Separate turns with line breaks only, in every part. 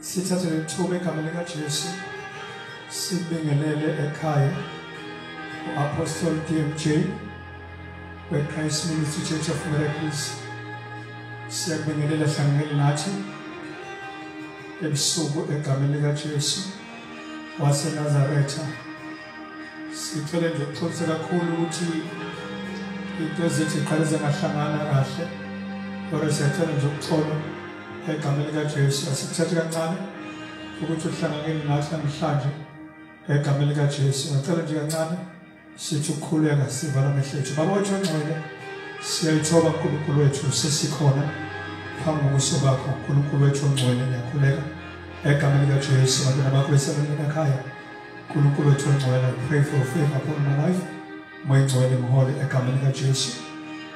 sithathe lethuba egameni likaJesu sibingelele ekhaya u-apostoli DMJ we-Christ Ministry Church of Miracles siyakubingelela hlanganyeli nathi ebusuku egameni likaJesu waseNazaretha sithole nje ukuxolisa kakhulu ukuthi into ezithi qale zingahlangana kahle kodwa siyathanda nje ukuxola egameni likajesu asikuthathi kancane ukuthi uhlanganyeli nathi namhlanje egameni likajesu ngacela nje kancane sithi ukukhuleka sivala amehlo ethu baba wethu ongcwele siyayithoba nkulunkulu wethu sesikhona phambi kobuso bakho nkulunkulu wethu ongcwele ngiyakhuleka egameni likajesu bantwana bakho besebenini ekhaya Nkulunkulu wethu ongcwele, I pray for favor upon my life. Moya ngcwele mhole egameni likaJesu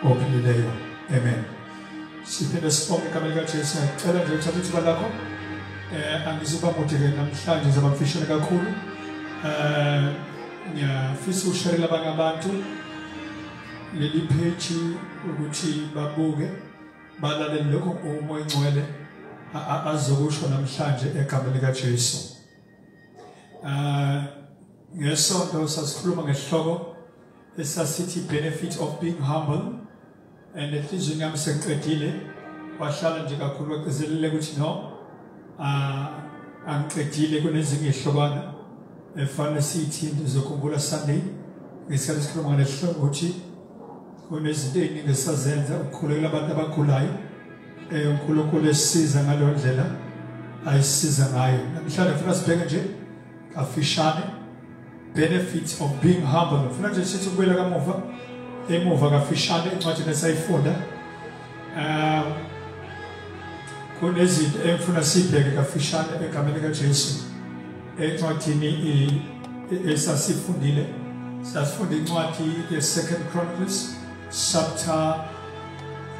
ophilileyo. Amen. Siphinde sibonge egameni likaJesu. Ngicela nje uthathe ithuba lakho. Eh angizuba mude ke namhlanje ngizoba mfishane kakhulu. Eh ngiyafisa usherela abanye abantu leli page ukuthi babuke balalele lokho umoya ngcwele azokusho namhlanje egameni likaJesu. Uh ngesonto sasikhuluma ngesihloko esasithi benefit of being humble and enhlizweni yami sengiqedile wahlala nje kakhulu wagcizelele ukuthi no uh, angiqedile kunezinye ihlokwana efanele sithi ndizokhumbula sunday ngesikhathi sikhuluma ngalesihloko ukuthi kunezinto ey'ningi esazenza ukukhulekela abantu abagulayo Eh uNkulunkulu esiza ngalondlela ayisiza ngayo. Namhlanje ngifuna sibheke nje kafishane benefits of being humble. Ngifuna nje sithi kubuyela kamuva emuva kafishane incwadi lesayifunda. Eh kunezinto engifuna sibheke kafishane egameni kaJesu. Encwadini esasifundile sasifunda incwadi ye-Second Chronicles chapter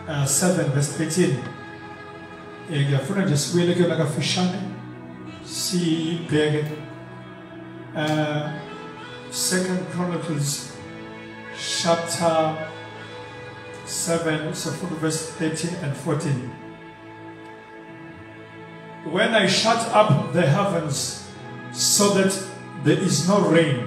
uh, 7 verse 13 eh, ngiyafuna nje sibuyele kuyona kafishane sibheke uh, second chronicles chapter 7 so from verse 13 and 14 when i shut up the heavens so that there is no rain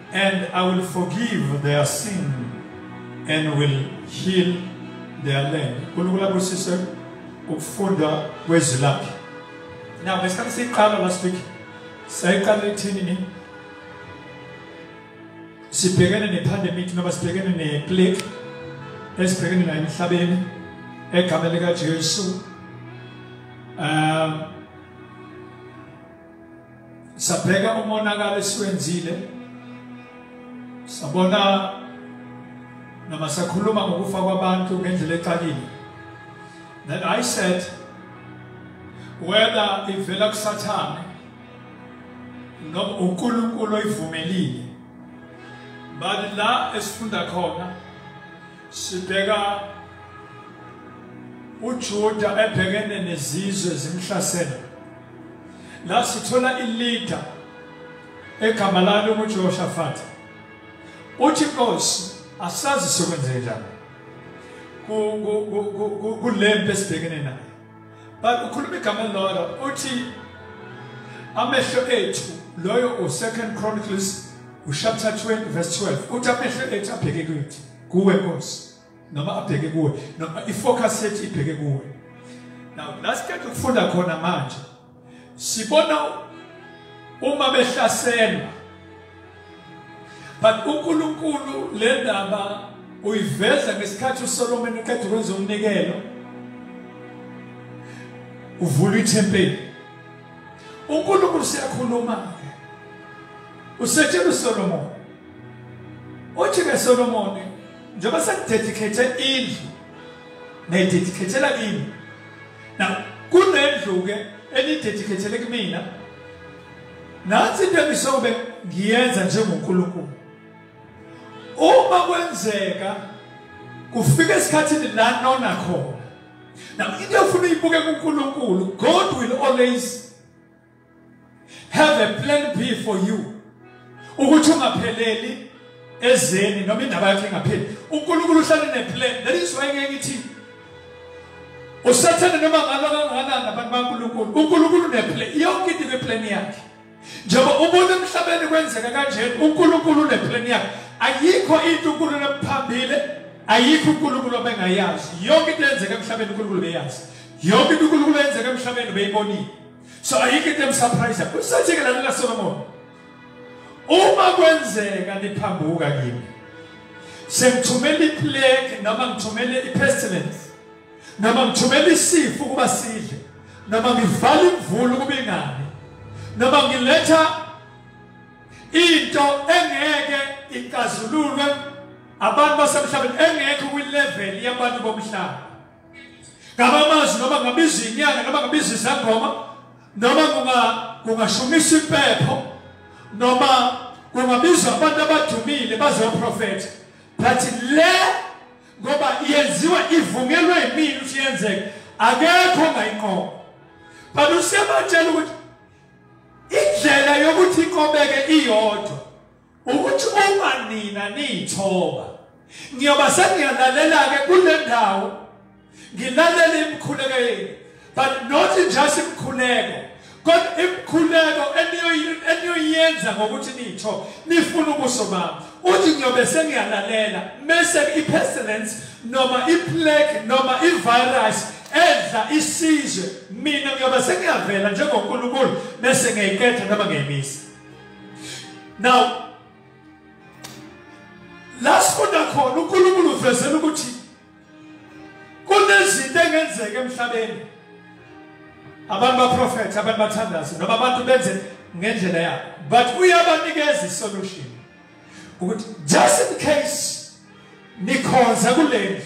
And I will forgive their sin and will heal their land. Kulukula kusise ukufunda kwezilaphi. Now ngesikhathi siqala last week sayiqala ithini ni? Sibhekene nepandemic noma sibhekene neplague esibhekene nayo emhlabeni egameni likaJesu. Um sabheka umonakalo esiwenzile sabona noma sakhuluma ngokufa kwabantu ngendlela exakile then i said whether ivela kusathane noma uNkulunkulu oyivumelile bani la esifunda khona sibheka uJuda ebhekene nezizwe zimhlasela la sithola ileader egama lalo nguJehoshafati uthi inkosi asazi sikwenzeke njani kulempi esibhekene nayo but ukhuluma igama elilodwa uthi amehlo ethu loyo u-second chronicles uchapter 20 verse 12 uthi amehlo ethu abheke kuthi kuwe nkosi noma abheke kuwe noma ifocus yethu ibheke kuwe now la siqeda ukufunda khona manje sibona uma behlaselwa but uNkulunkulu le ndaba uyiveza ngesikhathi uSolomon eqeda ukwenza umnikelo uvula ithempeli uNkulunkulu siyakhuluma ke usetshela uSolomon uthi ke Solomon njengoba senidedikhethe indlu nayidedikhethela kimi na kunendlu-ke enidedikhethele kumina nansi into engisobe ngiyenza njengonkulunkulu uma kwenzeka kufika esikhathini la nona khona na into efuna uyibuke kunkulunkulu god will always have a plan B for you ukuthi ungapheleli ezeni noma indaba yakhe ingapheli uNkulunkulu uhlale neplan that is why ngeke ngithi usathane noma ngalo kangakanani abantu baNkulunkulu uNkulunkulu neplan yonke into iplan yakhe njengoba ubona emhlabeni kwenzeka kanje uNkulunkulu neplan yakhe ayikho into uNkulunkulu ephambile ayikho uNkulunkulu obengayazi yonke into eyenzeka emhlabeni uNkulunkulu beyazi yonke into uNkulunkulu eyenzeka emhlabeni beyibonile so ayikho into emsurprise kusenzeke lana la Solomon uma kwenzeka niphambuka kimi sengithumela iplague noma ngithumele ipestilence noma ngithumela isifo kuba sidle noma ngivala imvula ukuba ingani noma ngiletha into engeke ikazululwe abantu basemhlabeni engekho kwi-level yabantu bomhlaba ngabamazi noma ngabiza inyanga noma ngabiza izangoma noma kungashumisa impepho noma kungabiza abantu abadumile bazoprofetha but le ngoba yenziwa ivunyelwe yimina ukuthi yenzeke akekho ongayinqoba but usebatshela ukuthi indlela yokuthi iqobeke iyodwa ukuthi uma nina niyithoba ngiyoba sengiyalalela-ke kule ndawo ngilalele imikhuleko yenu but not just imikhuleko kodwa imikhuleko eniyoyenza ngokuthi nitho nifuna ubuso bami uthi ngiyobe sengiyalalela mese i-pestilence noma i-plague noma i-virus edla isizwe mina ngiyobe sengiyavela njengonkulunkulu bese ngiyayiketha noma ngiyayimisa now la sifunda khona unkulunkulu uvezela ukuthi kunezinto engenzeka emhlabeni abantu baprofethe abantu bathandaze noma abantu benze ngendlela yabo but uyabanikeza isolution ukuthi just in case nikhonza kulendlu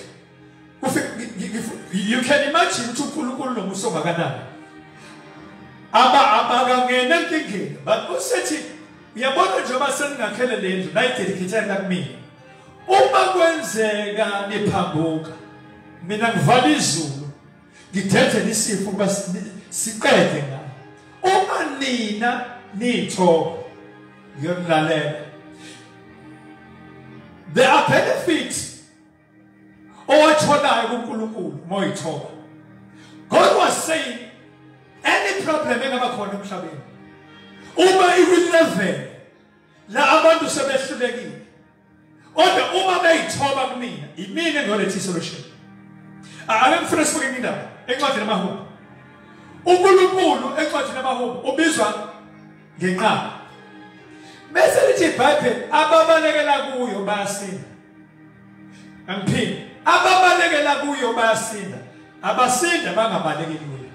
you can imagine ukuthi uNkulunkulu nomusa ongakanani aba abakangena enkingeni but usethi uyabona njengoba seningakhele le ndlu nayidedicate la kumina uma kwenzeka niphambuka mina ngivala izulu ngidede nisifo ukuba siqede ngalo uma nina nithoba ngiyonilalela there are benefits owatholayo kuNkulunkulu moyithoba God was saying any problem engaba khona emhlabeni uma iwilevele la abantu sebehlulekile kodwa uma beyithoba kumina yimina engolethe solution ake ngifune sibuke indaba encwadini yamahubo uNkulunkulu encwadini yamahubo ubizwa ngenqaba bese lithi iBhayibheli ababalekela kuyo bayasinda Angiphinde ababalekela kuyo bayasinda abasinda bangabalekeli kuyo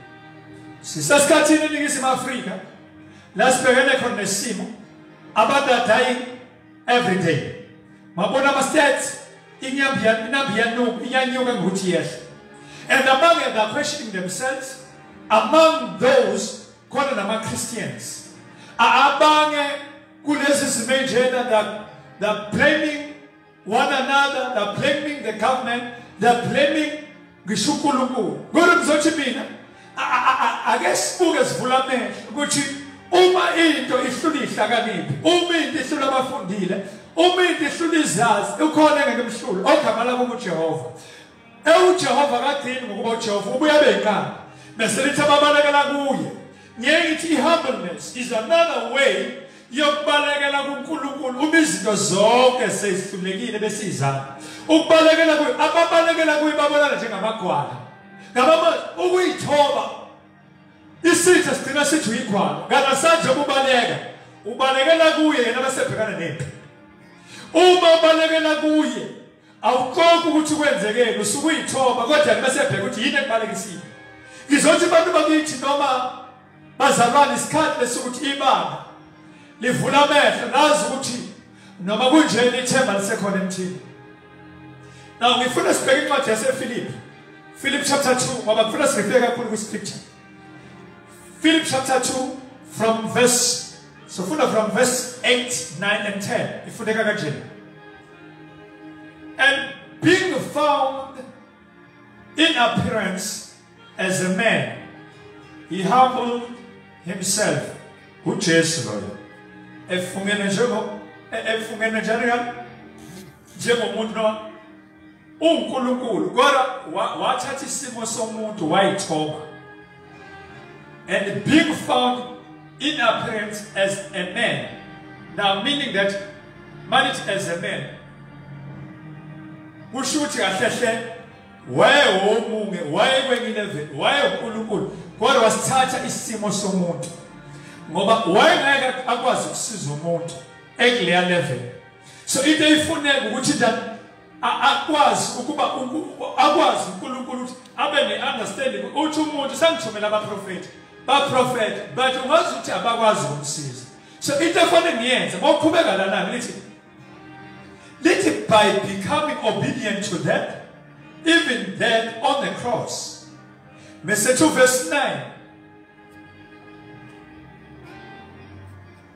sisesikhathini eningizimu Afrika la sibhekene khona nesimo abantu are dying every day mabona ama stats inyambi inambi yanuka iyanyuka ngokuthi yehla and among the questioning themselves among those khona nama Christians abange kulezi zimo enjena that they're blaming one another they're blaming the government they're blaming ngisho uNkulunkulu kodwa ngizothi mina ake sibuke sivula amehlo ukuthi uma into ihlula ihlakaniphi uma into ihlula abafundile uma into ihlula izazi ukhona engeke mhlulu ogama lakho uJehova ewujehova kadini ngokuba ujehova ubuye abe yinkani bese lithi ababalekela kuye ngeke ngithi i-humbleness is another way yokubalekela kuNkulunkulu uma izinto zonke sezihlulekile besizana ukubalekela kuye ababalekela kuye babonana njengamagwala ngabama ukuyithoba isitha sigcina sithi uyigwala kangasanje ukubaleka ubalekela kuye yena bese bhekana nempi uma ubalekela kuye awuqoki ukuthi kwenzekeni usuke uyithoba kodwa bese bheka ukuthi yini ekubalekisile ngizothi abantu bakithi noma bazalwane isikhathi lesokuthi ibanga livula amehlo nazi ukuthi noma kunjeni ithemba lisekhona emthini now ngifuna sibheke incwadi yasefilipi philip chapter 2 ngoba ngifuna sirefleke kakhulu kwiscripture philip chapter 2 from verse sofunda from verse 8 9 and 10 ifundeka kanjena And being found in appearance as a man, he humbled himself. UJesu loyo efungene njengo efungene njalo njengomuntu uNkulunkulu kodwa wathatha isimo somuntu wayithoba and being found in appearance as a man now meaning that manage as a man kusho ukuthi kahle hle wayewomunge wayekwengilevel wayeunkulunkulu kodwa wasithatha isimo somuntu ngoba wayengeke akwazi ukusiza umuntu ekuleya level so into eyifuneka ukuthi akwazi ukuba akwazi uNkulunkulu ukuthi abe ne-understanding uthi umuntu sangithumela abaprofethi baprofetha but ungazi ukuthi abakwazi ukumsiza so into efanele ngiyenze ngokuqhubeka lana lithi lithi by becoming obedient to that even then on the cross mese 2 verse 9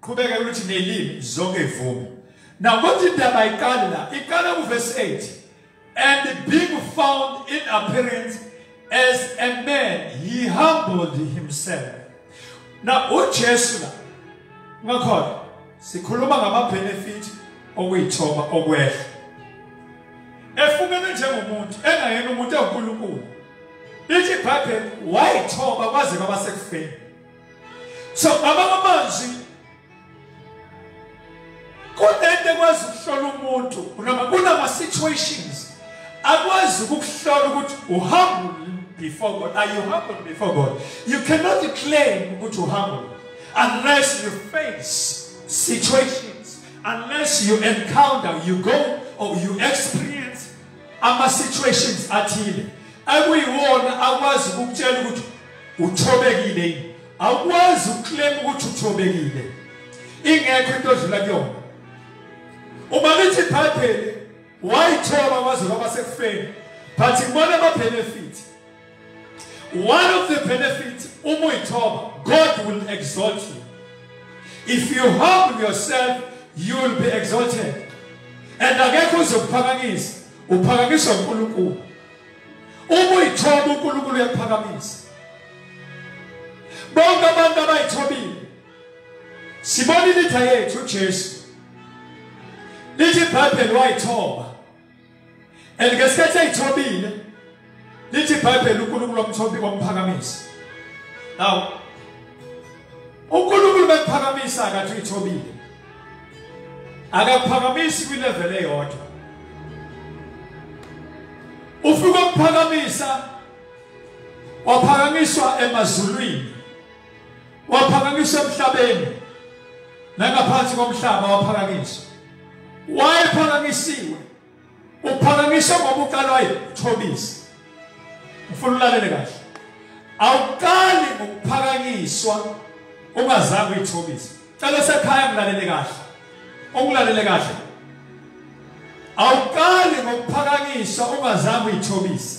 qhubeka ukuthi nelimi zonke ivume now kodwa indaba iqala la iqala kuverse 8 and being found in appearance as a man he humbled himself now ujesu la ngakhona sikhuluma ngama-benefit okuyithoba okwehla efungenwe njengomuntu engayena umuntu ewunkulunkulu lithi ibhayibheli wayithoba kwaze kwabasekufeni so ngama amazwi kunento ekwazi ukuhlola umuntu kunama situations akwazi ukuhlola ukuthi uhumble before God are you humble before God you cannot claim ukuthi uhumble unless you face situations unless you encounter you go or you experience ama situations athile akuyiwona akwazi ukukutshela ukuthi uthobekile yini awukwazi ukuclaim ukuthi uthobekile ingekho into odlula kuyona uma lithi ibhayibheli wayithoba waze waba sekufeni but ngibona ama benefit One of the benefits uma uyithoba God will exalt you. If you humble yourself you will be exalted. And akekho uzokuphakanyisa uphakanyiswa uNkulunkulu. Uma uyithoba uNkulunkulu uyakuphakamisa. Bonke abantu abayithobile sibona ilitha yethu uJesu lithi ibhayibheli wayithoba and ngesikhathi eyithobile lithi ibhayibheli unkulunkulu wamthobi wamphakamisa now unkulunkulu bekuphakamisa akathi uyithobile akakuphakamisi kwilevel eyodwa ufika ukuphakamisa waphakanyiswa emazulwini waphakanyiswa emhlabeni nangaphansi komhlaba waphakanyiswa wayephakanyisiwe uphakanyiswa ngoba uqalwayo uthobisa ufuna ulalele kahle awuqali ngokuphakanyiswa ungazange uyithobisa cela sekhaya ngilalele kahle ongilalele kahle awuqali ngokuphakanyiswa ungazange uyithobise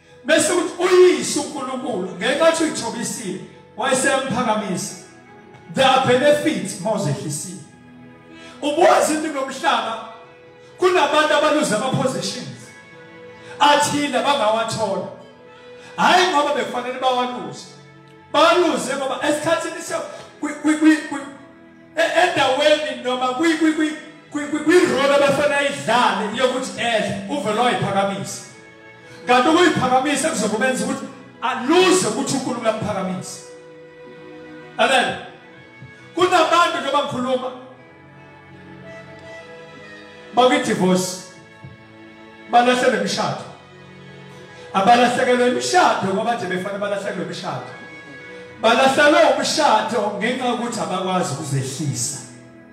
bese ukuthi uyise uNkulunkulu ngenxa ukuthi uyithobisile wayesemphakamisa there are benefits mawuzehlisile ubuwazi into ngomhlaba kunabantu abaluza ama positions athile abangawathola hayi ngoba bekufanele bawaluze baluze ngoba esikhathini se e-, endaweni noma kwi kwi kwi kwi kwi role abafana idlale yokuthi edle uvelo ayiphakamisa kanti ukuyiphakamisa kuzokubenza ukuthi aluze ukuthi uNkulunkulu uyamphakamisa amen kunabantu njengoba ngikhuluma bakwidivorce balahlela imishado abalahlekelwe imishado ngoba nje befanele balahlekelwe imishado balahlekelwe umshado ngenxa yokuthi abakwazi ukuzehlisa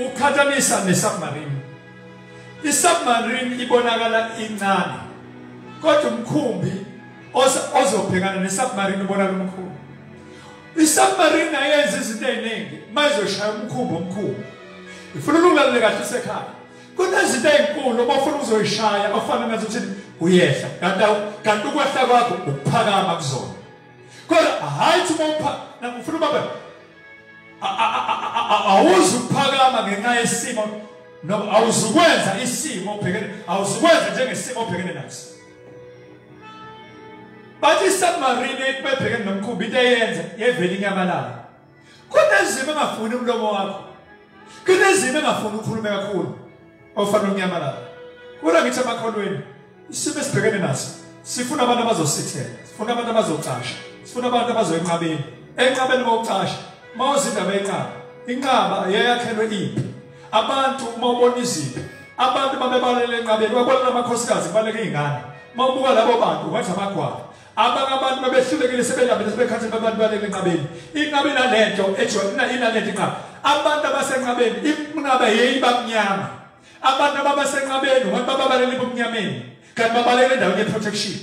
uqhathanisa nesubmarine isubmarine ibonakala incane kodwa umkhumbi ozobhekana nesubmarine ubonakala umkhulu isubmarine ayenza izinto eziningi mayizoshaya umkhumbi omkhulu ifuna ulalele kahle usekhaya kunezinto ezinkulu obafuna uzoyishaya ofana nazo ukuthi uyehla kanti kanti ukwehla kwakho ukuphakama kuzona kodwa hayi ukuthi uma upha ngifuna ubaba awuzi ukuphakama ngenxa yesimo noma awuzukwenza isimo obhekene awuzukwenza njengesimo obhekene naso bathi submarine ibebhekene nomkhumbi into eyenza yevela inyamalala kodwa ezimo engafuni umlomo wakho kunezimo engafuni ukhulume kakhulu ofana unyamalala kula ngithi amakholweni isimo esibhekene naso sifuna abantu abazosithela sifuna abantu abazocasha sifuna abantu abazoyenqabeni enqabeni kokucasha uma uzindaba enqaba inqaba yeyakhelwe impi abantu uma ubona iziphi abantu babebalele enqabeni wakwalana amakhosikazi kubaleka iy'ngane uma ubuka labo bantu ungathi amagwala abanye abantu babehlulekile sebelambile sebekhathele babantu balele enqabeni inqaba inalento ejo inalento inqaba abantu abasenqabeni inqaba yeyiba mnyama abantu ababesenqabeni abantu bababalele ebumnyameni kanti babalele endaweni ye-protection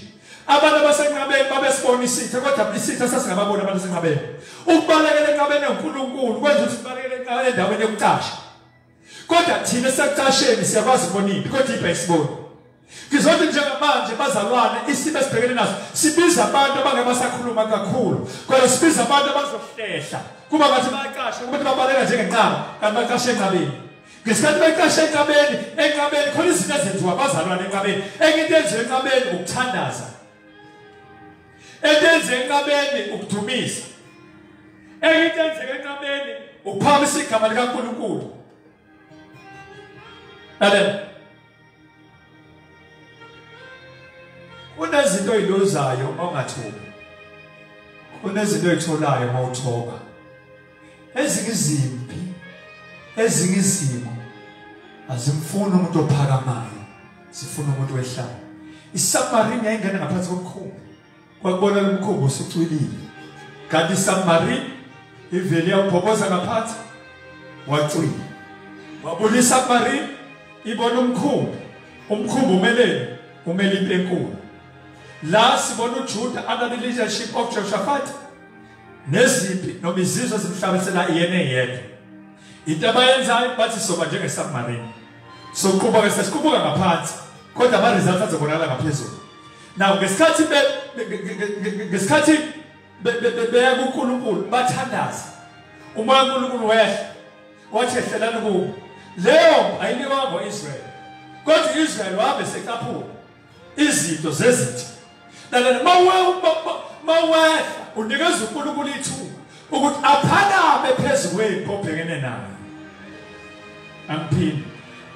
abantu abasenqabeni babesibona isitha kodwa isitha sasingababoni abantu asenqabeni ukubalekela enqabeni enkulunkulu kwenza ukuthi sibalekele enqabeni endaweni yokucasha kodwa thina sekucasheni siyakwazi ukubona impi kodwa impi ayisiboni Ngizothi njengamanje bazalwane isimo esibhekene naso sibiza abantu abangebasakhuluma kakhulu kodwa sibiza abantu abazohlehla kuba ngathi bayaqashwa kubantu babaleka njengenqaba kanti baqashe enqabeni ngesikhathi beqashe enqabeni enqabeni khona izinto ezenziwa abazalwane enqabeni enye into enziwa enqabeni ukuthandaza etenze enqabeni ukudumisa enye into enzeka enqabeni ukuphakamisa igama likaNkulunkulu lalela kunezinto oyiluzayo ongathobi kunezinto oyitholayo uma uthoba ezinye izimpi ezinye izimo azimfuni umuntu ophakamayo zifuna umuntu wehlayo isamarine yayingena ngaphansi komkhulu kwakubona lomkhumbi usucwilile kanti submarine ivele yawubhoboza ngaphansi wacwila wabona isubmarine ibona umkhumbi umkhumbi umeleni umele into enkulu la sibona uJuda under the leadership of Jehoshaphat nezimpi noma izizwe zimhlabisela yena yedwa into abayenzayo bathi soba njengesubmarine soqubuka sesiqubuka ngaphansi kodwa ama results azobonakala ngaphezulu Now ngesikhathi be ngesikhathi beya kuNkulunkulu bathandaza. Umoya uNkulunkulu wehla wathi ehlelani kubo. Leyo ayiniwa ngoIsrael. Kodwa uIsrael wabe secaphula izinto zezitha. Lalela mawehla unikeza uNkulunkulu ithuba ukuthi aphakame phezu kwempi obhekene nayo angiphinde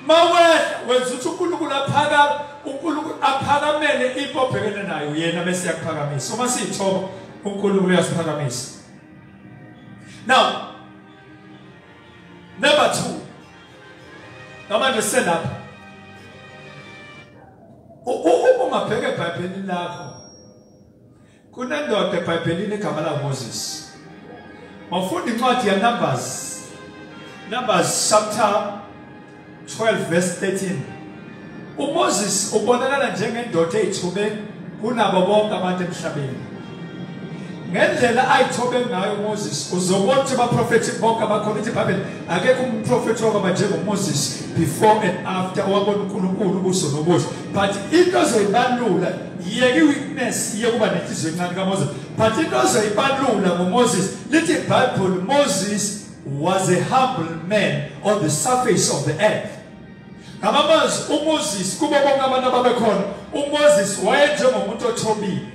mawehla wenza ukuthi uNkulunkulu aphakame uNkulunkulu aphakamele impi obhekene nayo yena bese yakuphakamisa uma siyithoba uNkulunkulu uyasiphakamisa now number 2 namanje selapha uma ungabheka ebhayibhelini lakho kunendoda ebhayibhelini egama languMoses wafunda incwadi yaNumbers Numbers chapter 12 verse 13 uMoses ubonakala njengendoda eyithobe kunabo bonke abantu emhlabeni ngendlela ayithobe ngayo uMoses uzobona ukuthi abaprofethi bonke abakhona ithi ibhayibheli akekho umprofethi owaba njengoMoses before and after owabona unkulunkulu ubuso nobuso but into zoyibalula yeke i-weakness yokuba nenhliziyo encane kamoses but into ezoyibalula ngomoses lithi ibhayibhuli moses was a humble man on the surface of the earth ngamamazwi umoses kubo bonke abantu ababekhona umoses wayenjengomuntu othobile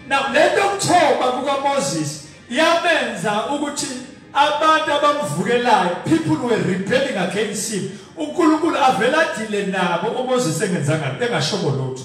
now le nto yokuthoba kukamoses yamenza ukuthi abantu abamvukelayo people were rebelling against him unkulunkulu avele adile nabo umoses engenzanga engashobo lutho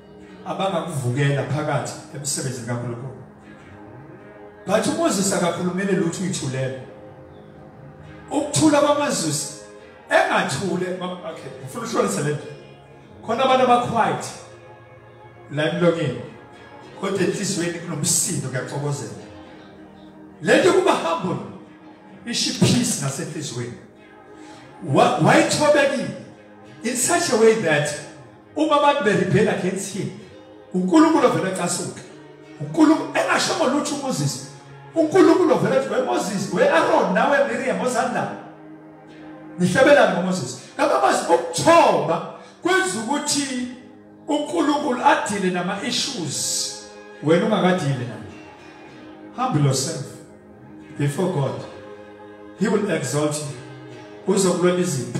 abangakuvukela phakathi emsebenzini kaNkulunkulu but uMoses akakhulumele lutho uyithulele ukuthula kwamazwisi engathule okay ngifuna ushonise lento khona abantu abaquiet la emlonyeni kodwa enhliziyweni kunomsindo kuyaxokozela lento kuba humble ishi peace nasenhliziyweni wayithobekile in such a way that uma abantu beribhela against him uNkulunkulu ovela ecasuke uNkulunkulu engasho ngolutho uMoses uNkulunkulu ovela ethi weMoses weAron nawe Miriam ozanda nihlabelana ngoMoses ngabamazi ukuthoba kwenza ukuthi uNkulunkulu adile nama issues wena ungakadile naye humble yourself before God he will exalt you uzokulwela izimpi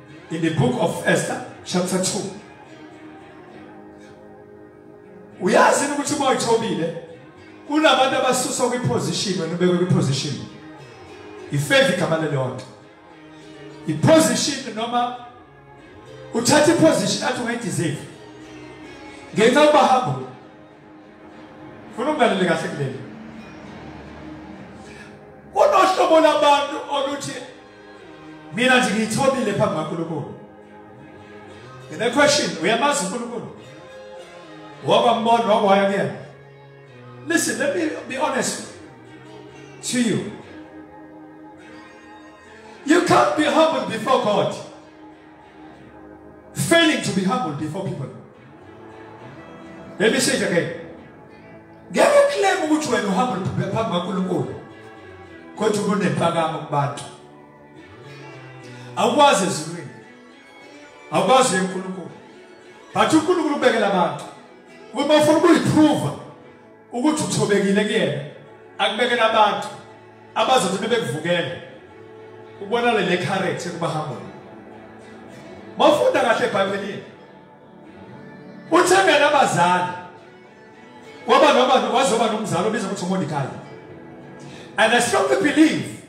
in the book of Esther chapter 2 uyazi ukuthi uma uyithobile kunabantu abasuswa kwiposition wena ubekwe kwiposition ifave igama lelonto iposition noma uthatha iposition athi ungayideserve ngenxa uba humble funa ungalele kahle kuleli kunohlobo labantu oluthi mina nje ngiyithobile phambi kaNkulunkulu ngine question uyamazi uNkulunkulu wakwambona wakwaya kuyena listen let me be honest to you you can't be humble before God failing to be humble before people Let me say it again. Ngeke uclaim ukuthi wena uhamba phambi kaNkulunkulu. Kodwa kunempakamo kubantu. Awukwazi ezulwini. Awukwazi eNkulunkulu. But uNkulunkulu ubekela abantu. Uma ufuna ukuyiprova ukuthi uthobekile kuyena akubekele abantu abazothi bebekuvukele ubona le character kubahamba mafunda kahle eBhayibhelini uthembele abazali kwaba noba wazoba nomzali obiza ukuthi uMordecai and I strongly believe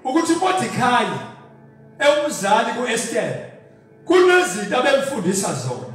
ukuthi uMordecai ewumzali kuEsther kunezinto abemfundisa zona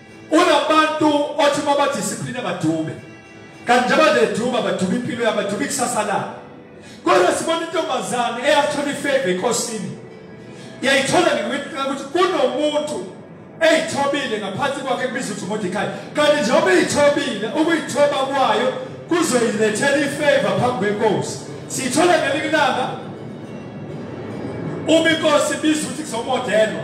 unabantu othi uma badiscipline badube kanti njengoba nje eduba baduba impilo yabo baduba ikusasa labo kodwa sibona intombazane eyathola ifeva enkosini yayithola ngiwithola ukuthi kunomuntu eyithobile ngaphansi kwakhe kubiza ukuthi uMordecai kanti njengoba eyithobile ukuyithoba kwayo kuzoyilethela ifeva phambi kwenkosi siyithola ngelinye ilanga uma inkosi ibiza ukuthi kuzomodelwa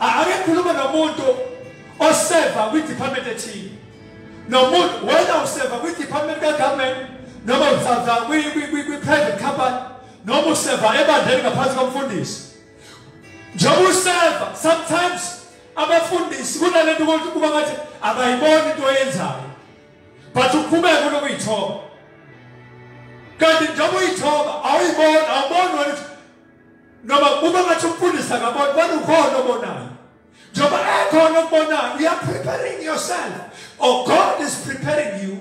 ake khulume nomuntu oseva kwi-department ethile nomuntu wena useva kwi-department kagovernment noma usava kwi-private company noma useva ebandleni ngaphansi komfundisi njengoba useva sometimes abafundisi kunale nto ukuthi kuba ngathi abayiboni into oyenzayo but uqhubeke kunokuyithoba kanti njengoba uyithoba awuyiboni awuboni wena noma uma ngathi umfundisi akaboni bona ukhona obonayo njengoba ekhona okubonayo you are preparing yourself or oh, god is preparing you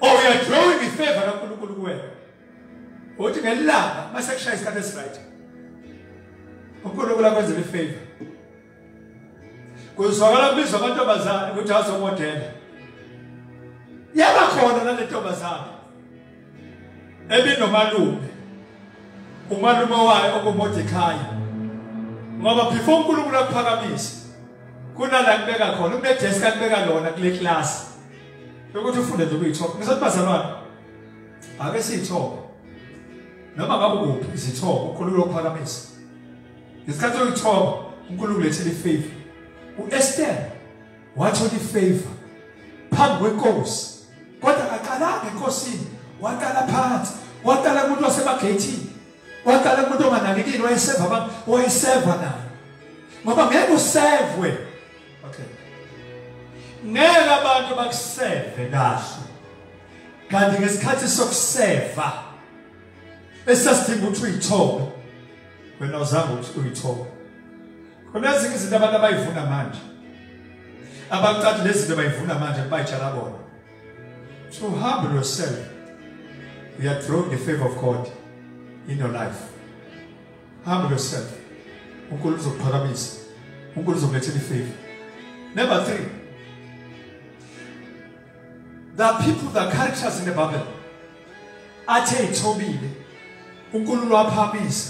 or oh, you are drawing the favor kankulunkulu kuwena uthi ngelilanga uma sekushaya isikhathi esiright unkulunkulu akwenzela ifavor kuzwakala kubiza amantombazane ukuthi azomodela yaba khona nale ntombazane ebinomalume umalume wayo okumodekhayo ngoba before unkulunkulu akuphakamisa kunala kubeka khona kunedesi kakubeka lona kule klasi yokuthi ufunde nje ukuyithoba ngisathi bazalwane ake siyithobe noma ngabe kuphi izithobo ukhulula ukuphakamisa ngesikhathi oyithoba unkulunkulu lethele ifavor u-ester wathola ifavor phambi kwenkosi kodwa akaqalanga enkosini waqala phansi waqala kumuntu wasemageyithini waqala kumuntu onganakekile wayeseva abantu wayeseva naye ngoba ngeke usevwe okay ngeke abantu bakuseve kahle kanti ngesikhathi sokuseva esasidinga ukuthi uyithole wena uzama ukuthi uyithole khona ezinye izinto abantu abayivuna manje abaqathi lezinto bayivuna manje bayitshala bona to humble yourself you are drawing the favor of God in your life humble yourself uNkulunkulu uzokuphakamisa uNkulunkulu uzokulethela ifavor number 3 There are people, there are characters in the Bible. Athe ithobile. uNkulunkulu waphamisa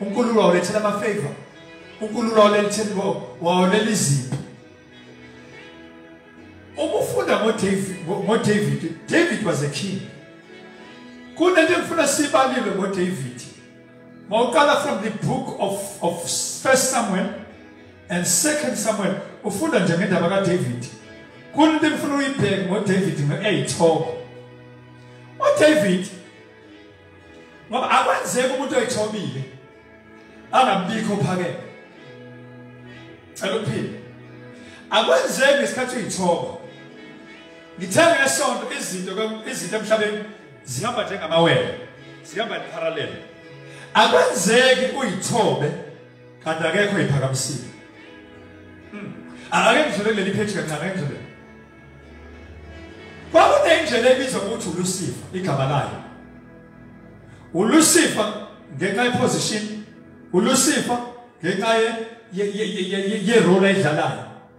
uNkulunkulu wawulethela ama favor uNkulunkulu wawulethela wawulela izipho uma ufunda ngoDavid ngoDavid David was a king kunento engifuna sibalile ngoDavid mawuqala from the book of, of first samuel and second samuel ufunda nje ngendaba kadavid kunto engifuna uyibheke ngodavid nge-eyithoko udavid ngoba akwenzeki umuntu oyithobile angabikho phakele cela ukuphila akwenzeki ngesikhathi uyithoba ngithe ngesonto izinto izinto emhlabeni zihamba njengamawele zihamba in parallel akwenzeki uyithobe kanti akekho iphakamisile hmm. ake ngidlule kuleli page kancane ake ngidlule kwakunendlela ebizwa ukuthi ulusifa igama layo ulusifa ngenxa yeposition ulusifa ngenxa ye ye ye ye ye role edlalayo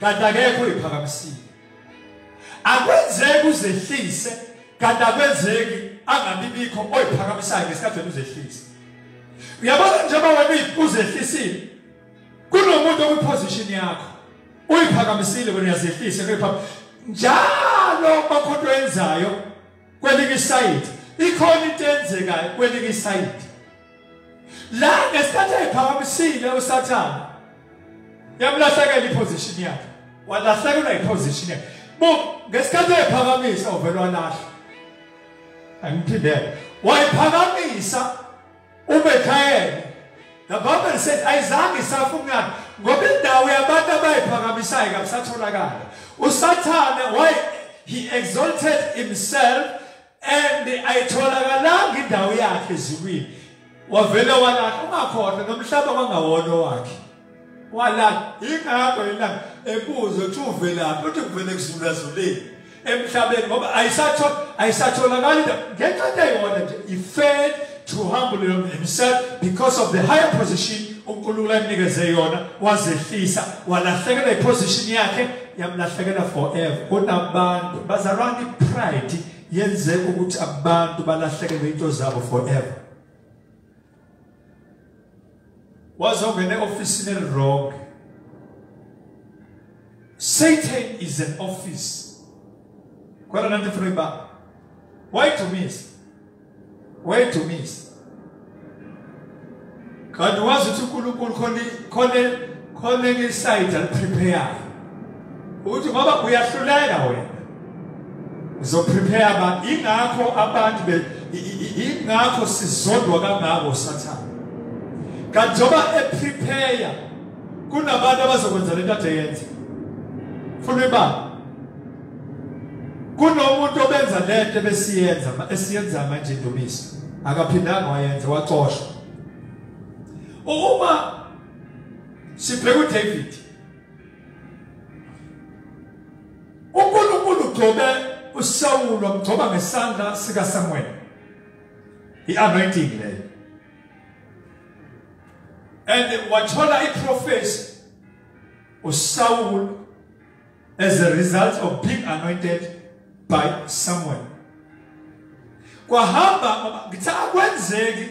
kanti akekho uyiphakamisile akwenzeki uzehlise kanti akwenzeki angabibikho oyiphakamisayo ngesikhathi wena uzehlise uyabona njengoba wena uzehlisile kunomuntu okwiposition yakho uyiphakamisile wena uyazehlisa njalo bakho into yenzayo kwelinye isayidi ikhona into enzekayo kwelinye isayidi la ngesikhathi ayiphakamisile usathane yamlahlekela iposition yakhe walahlekelwa iposition yakhe bo ngesikhathi ayiphakamisa uvele walahla angiphindele wayiphakamisa uBethayeli the bible said ayizange isafa umlando ngoba indawo yabantu abayiphakamisayo kabisatholakala usathane why he exalted himself and ayitholakalanga indawo yakhe ezulwini wavele walahla ungakhona nomhlaba kwangawona wakhe wala ingakho yena ebuzo ukuthi uvelaphi uthi kuvele kuzulazuleni emhlabeni ngoba ayisatho ayisatholakali ngenxa into eyona nje he failed to humble himself because of the higher position uNkulunkulu anikeze yona wazehlisa walahlekela iposition yakhe yamlahlekela forever kunabantu bazalwana ipride yenze ukuthi abantu balahlekelwe into zabo forever wazongena eofisini elirong satan is an office khona nanti funa uyibamba wayidumisa wayidumisa kanti wazi ukuthi unkulunkulu khona khona khona ngesayidi aliprepayayo ukuthi ngoba uyahluleka wena uzoprepare abantu ingakho abantu be ingakho sizondwa kangako usathane kanti njengoba eprepare kunabantu abazokwenza lento ade yenza funa ibanga kunomuntu obenza lento besiyenza esiyenza manje indumiso akaphindanga wayenza waxoshwa uma sibheka uDavid uNkulunkulu ugcobe uSawulu wamgcoba ngesandla sikaSamuel i-anointing leyo and wathola iprofesi uSawulu as a result of being anointed by Samuel kwahamba ngithe akwenzeki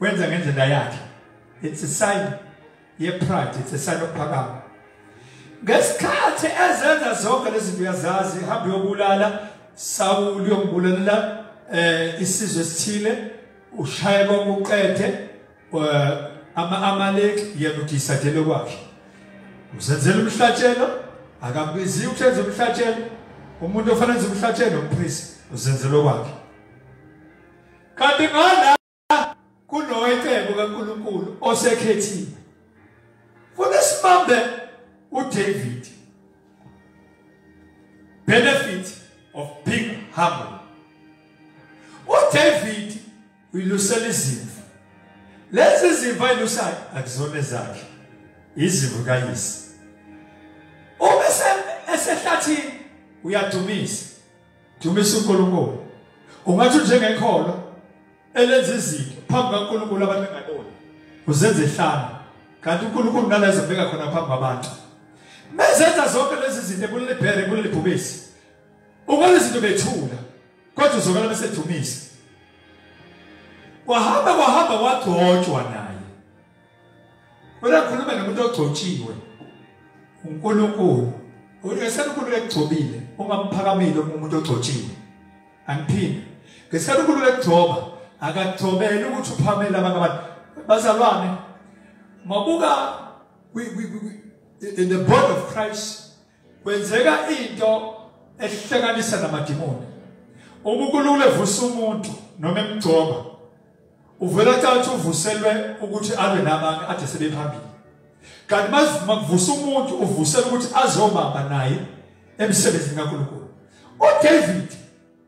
wenza ngendlela yakhe it's a sign ye pride it's a sign of phakama ngesikhathi ezenza zonke lezi zinto uyazazi hamba uyobulala Saul uyobulalela eh isizwe esithile ushaya konke uqede eh, ama Amalek yena udisadele kwakhe usenzela umhlatshelo akabizi ukwenza umhlatshelo umuntu ofanele ukwenza umhlatshelo umpriest uzenzela kwakhe kanti ngala kunowecebo kaNkuluNkulu osekhethiwe funa sibambe uDavid benefit of being humble uDavid uyilusela izimvu lezi zimvu ayilusayo akuzona zakhe izimvu kayise uma esehlathini uyadumisa Dumisa uNkulunkulu. Ungathi njengekholo elenza izinto phambi kaNkulunkulu abantu bengaboni. Uzenza ihlanga. Kanti uNkulunkulu nalezo beka khona phambi kwabantu. Mezenza zonke lezi zinto kuleli bhere kuleli bhubesi. Ungale izinto bethula. Kodwa uzokala bese dumisa. Wahamba wahamba wagcotshwa naye. Kodwa khuluma nomuntu ogcotshiwe. UNkulunkulu unesikhathi uNkulunkulu ekugcobile ungamphakamile umuntu ogcotshiwe. Angiphinde. Ngesikhathi uNkulunkulu ekugcoba akagcobeli ukuthi uphamele abantu abantu bazalwane. Mabuka in the body of Christ kwenzeka into ehlekanisa namadimoni uma ukulula evusa umuntu noma emgcoba uvela thatha uvuselwe ukuthi alwe nabanye ade sebephambili kanti masivuma kuvusa umuntu uvusela ukuthi azobamba naye emsebenzini kaNkulunkulu uDavid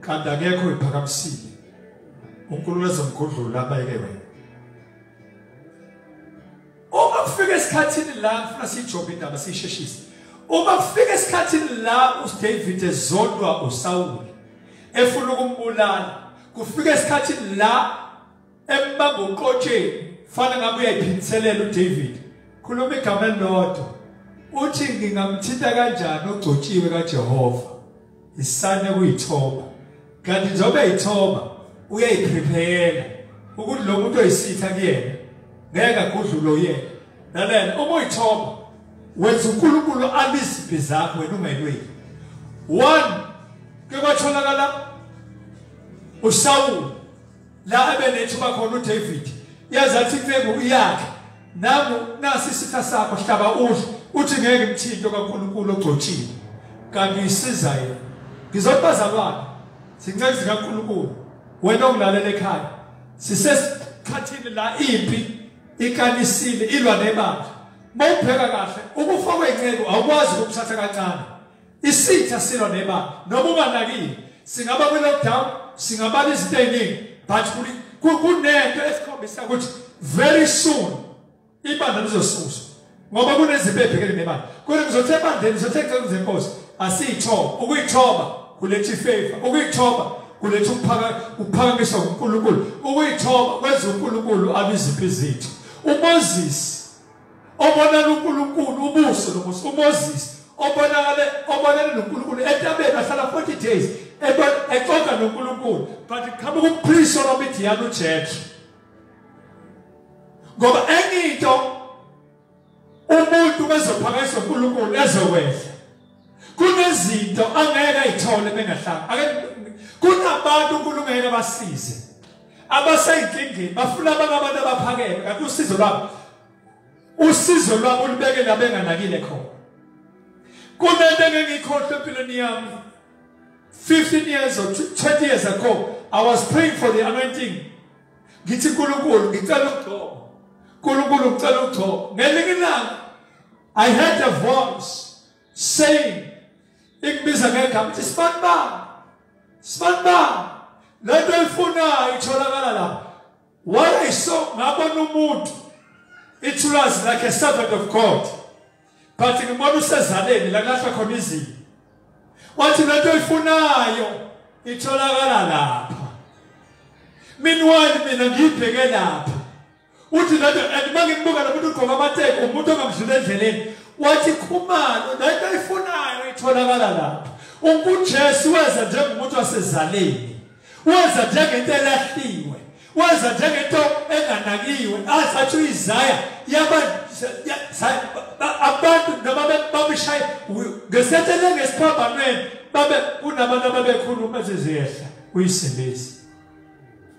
kanti akekho iphakamisile uNkulunkulu ezomgudlula abayeke wena uma kufika esikhathini la ngifuna siyijobe indaba siyisheshise uma kufika esikhathini la uDavid ezondwa uSawule efuna ukumbulala kufika esikhathini la embamba uqotsheni fana ngabe uyayiphindiselela uDavid khuluma igama elilodwa uthi ngingamthinta kanjani ogcotshiwe kaJehova isane kuyithoba kanti njengoba yithoba uyayiprepare ukuthi lo muntu oyisitha kuyena ngeke agudlulo yena lalela uma uyithoba wenza uNkulunkulu abiziphi zakho wena ungelweni one ke kwatholakala uSawulu la ebenethuba khona uDavid yazi athi imfengu iyakhe nangu nasi isitha sakho hlaba udle uthi ngeke ngithinte kaNkulunkulu ogcotshiwe kanti uyisiza yena ngizobazalwane sinceke zikaNkulunkulu wena ongilalela ekhaya sisesikhathini la impi ikanisile ilwa nebandla mawubheka kahle ukufa kwenceku awukwazi ukuthatha kancane Isitha silwa nebala noma unganakile singaba kwi lockdown singabala izinto eziningi but kunento esikhombisa ukuthi very soon ibandla lizosuswa ngoba kunezinto ebhekene nebala kodwa ngizothe ebandleni ngizothe eceleni zenkosi asiyithoba ukuyithoba kuletha ifavor ukuyithoba kuletha ukuphaka ukuphakamiswa uNkulunkulu ukuyithoba kwenza uNkulunkulu abiziphi izinto uMoses obonela uNkulunkulu ubuso nobuso uMoses obonakale obonela noNkulunkulu entabeni ahlala 40 days exoxa noNkulunkulu but qhamuka umpriest onomidiyana uJethro ngoba enye into umuntu bezophakanyiswa uNkulunkulu ezokwehla kunezinto angeke ayithole bengahlanga ake kunabantu uNkulunkulu abasize abaseyinkingeni bafuna abantu abantu abaphakeme kanti usizo lwabo usizo lwabo ulibeke labenganakile khona kunento engengikhohle empilweni yami 15 years or 20 years ago i was praying for the anointing ngithi uNkulunkulu ngicela ukugcoba uNkulunkulu ngicela ukugcoba ngelinye ilanga I heard a voice saying ikubiza ngegama ukuthi sibani bani sibani bani lento oyifunayo itholakala lapha what I saw ngabona umuntu ithulazi like a servant of God but ngibona usezaleni la kulahla khona izinto wathi lento oyifunayo itholakala lapha meanwhile mina ngiyibheke lapha uthi lento and uma ngimbuka lo muntu ugqoka amateki umuntu ongamdlula endleleni wathi khumalo lento ayifunayo itholakala lapho unkujesu weza njengomuntu wasezaleni weza njengento elahliwe weza njengento enganakiwe azathi uyizaya yaba abantu noma babishaye ngesetshele ngesiphambanweni babe kunabantu ababekhuluma ziziyehla uyisebenzisa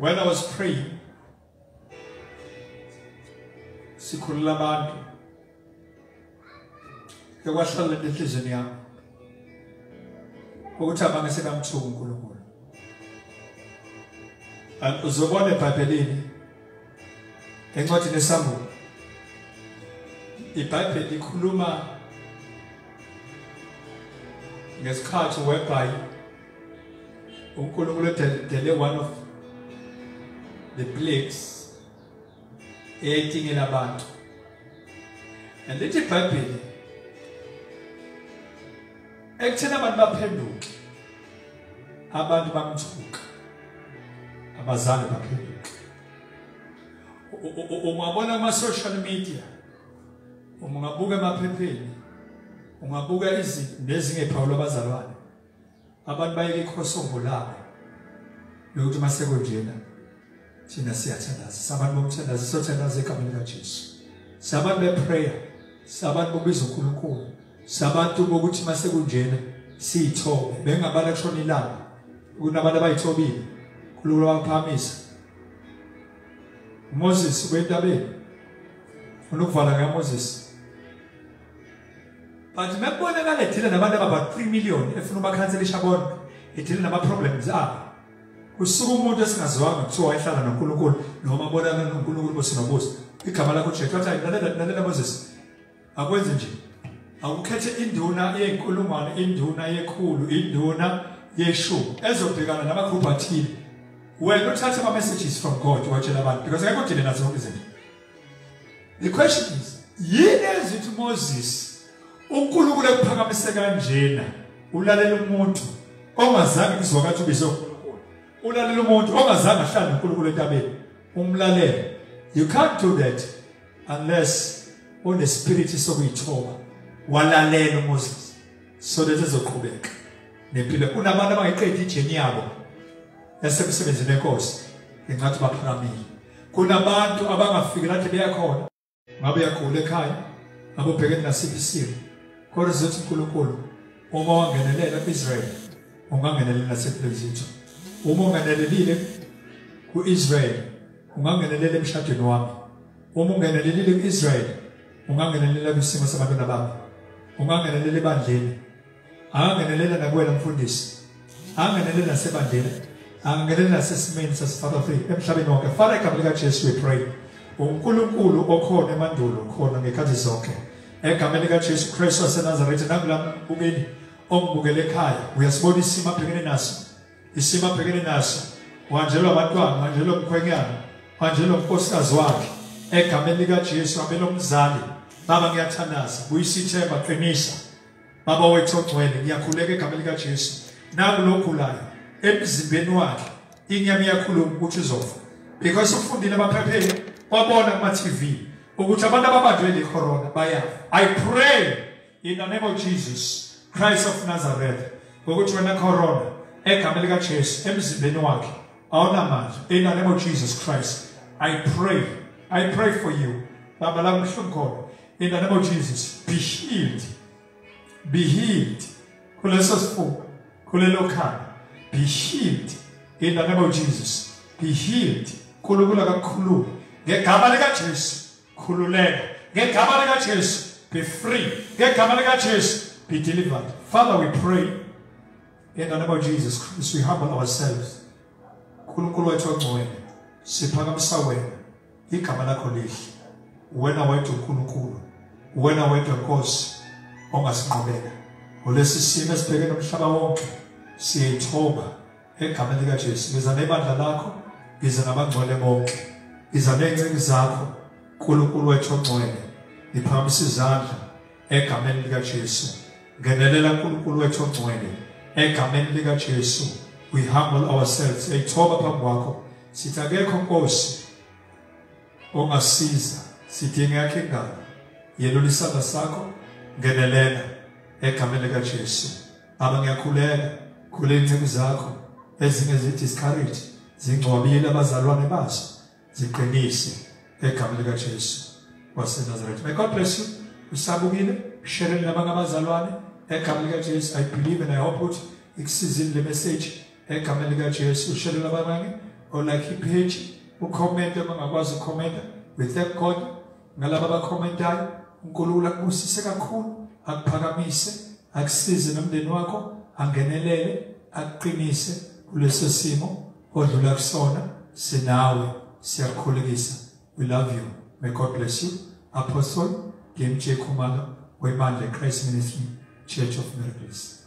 when i was praying sikhulula abantu ke kwahlala enhlizweni yami ukuthi abanye sekamthuka uNkulunkulu uzobona eBhayibhelini encwadini eSamuel iBhayibheli ikhuluma ngesikhathi whereby uNkulunkulu edele one of the plagues eyayitingela abantu and lithi ibhayibheli ekutheni abantu baphenduke abantu bamthuka abazali baphenduke ungabona ama-social media ungabuka emaphepheni ungabuka izinto nezingephawula abazalwane abantu bayeke ikhosongo labo lokuthi uma sekunjena thina siyathandaza sabantu bomthandaza siyothandaza egameni likajesu sabantu beprayer sabantu bokubiza unkulunkulu sabantu bokuthi uma sekunjena siyithobe bengabala kushona ilanga kunabantu abayithobile unkulunkulu wabaphamisa moses ubentabeni funa ukuvala ngamoses but mekubonakala edile nabantu ababa 3 million efuna ubakhanselisha bona edile nama-problems abo kusuka umuntu esingaziwanga kuthiwa wayehlala nonkulunkulu noma abonana nonkulunkulu bosinobuso igama lakho jesu wathi lalela moses akwenze nje awukhethe induna yey'nkulungwane induna yekhulu induna yeshumi ezobhekana namagruphu athile wena uthathe ama-messages from god watshela abantu because ngeke udile nazo zonke izinto The question is, yini ezithi Moses uNkulunkulu ekuphakamise kanjena ulalela umuntu ongazange izwakathi ubizo uNkulunkulu. Ulalela umuntu ongazange ahlale uNkulunkulu entabeni. Umlalele. You can't do that unless une spirit sokuyithoba. Walalela uMoses. So that ezoqhubeka. Nempilo kunabantu abangayiqedi ijeni yabo yasemsebenzini enkosi. Ingathi baphakamile. kunabantu abangafiki lathi beyakhona ngabe uyagula ekhaya ngabe ubhekene nasiphi isimo kodwa sizothi unkulunkulu uma wangenelela ku-israyeli ungangenelela naseplezitho uma ungenelelile ku-israyeli ungangenelela emshadweni wami uma ungenelelile ku-israyeli ungangenelela kwisimo sabantwana bami ungangenelela ebandleni angangenelela nakuwena mfundisi angangenelela nasebandela angangenelela nasesimeni sasifaka free emhlabeni wonke fana igama likajesu we pray unkulunkulu okhona emandulo khona ngekhathi zonke egameni likajesu kristu wasenazaretha nakula mbukeli ongibukele ekhaya uyasibona isimo abhekene naso isimo abhekene naso wanjelwa abantwana wanjelwa umkhwenyana wanjelwa umkosikazi wakhe egameni likajesu abelomzali baba ngiyathandaza buyisa ithemba qinisa baba wethu ogcwele ngiyakhuleka igama likajesu naku logulayo emzimbeni wakhe inyama iyakhuluma ukuthi uzofa because ufundile abaphepheli wabona kuma-tv ukuthi abantu ababanjwe le corona bayafa i pray in the name of jesus christ of nazareth ngokuthi wena corona egama likajesu emzimbeni wakhe awunamandla in the name of jesus christ i pray i pray for you baba la kubuhlungu khona in the name of jesus be healed be healed kuleso sifuba kulelo khanda be healed in the name of jesus be healed kulukula kakhulu ngegama likajesu khululeka ngegama likajesu be free ngegama likajesu be delivered father we pray In the name of Jesus Christ, we humble ourselves. Nkulunkulu wethu ongcwele, siphakamisa wena. Igama lakho lihle. Wena wedwa uNkulunkulu. Wena wedwa Nkosi ongasinqobela. Ngolesi simo esibheke nomhlaba wonke, siyayithoba egameni lika Jesu. Ngiza nebandla lakho, ngiza nabangcwele bonke. Ngiza nezinceku zakho, Nkulunkulu wethu ongcwele. Ngiphakamisa izandla egameni likaJesu ngenelela uNkulunkulu wethu ongcwele egameni likaJesu we humble ourselves siyayithoba phambi kwakho sithi akekho nkosi ongasiza sidinga yakhe indaba yelula isandla sakho ngenelela egameni likaJesu aba ngiyakhuleka khuleni inceku zakho ezinye zi-discourage zingcwabile abazalwane bazo ziqinise egama lika Jesu waseNazaretha may God bless you usabukile share nabanye abazalwane egama lika Jesu i believe and i hope ukuthi ikusizile le message egama lika Jesu share nabanye or like ipage ucomment abangakwazi ucomment we thank God ngalabo abacommentayo uNkulunkulu akubusise kakhulu akuphakamise akusize nomndeni wakho angenelele akuqinise kulesesimo odlula kusona sinawe siyakukhulekisa we love you may god bless you apostle DMJ Khumalo webandla Christ Ministry Church of Miracles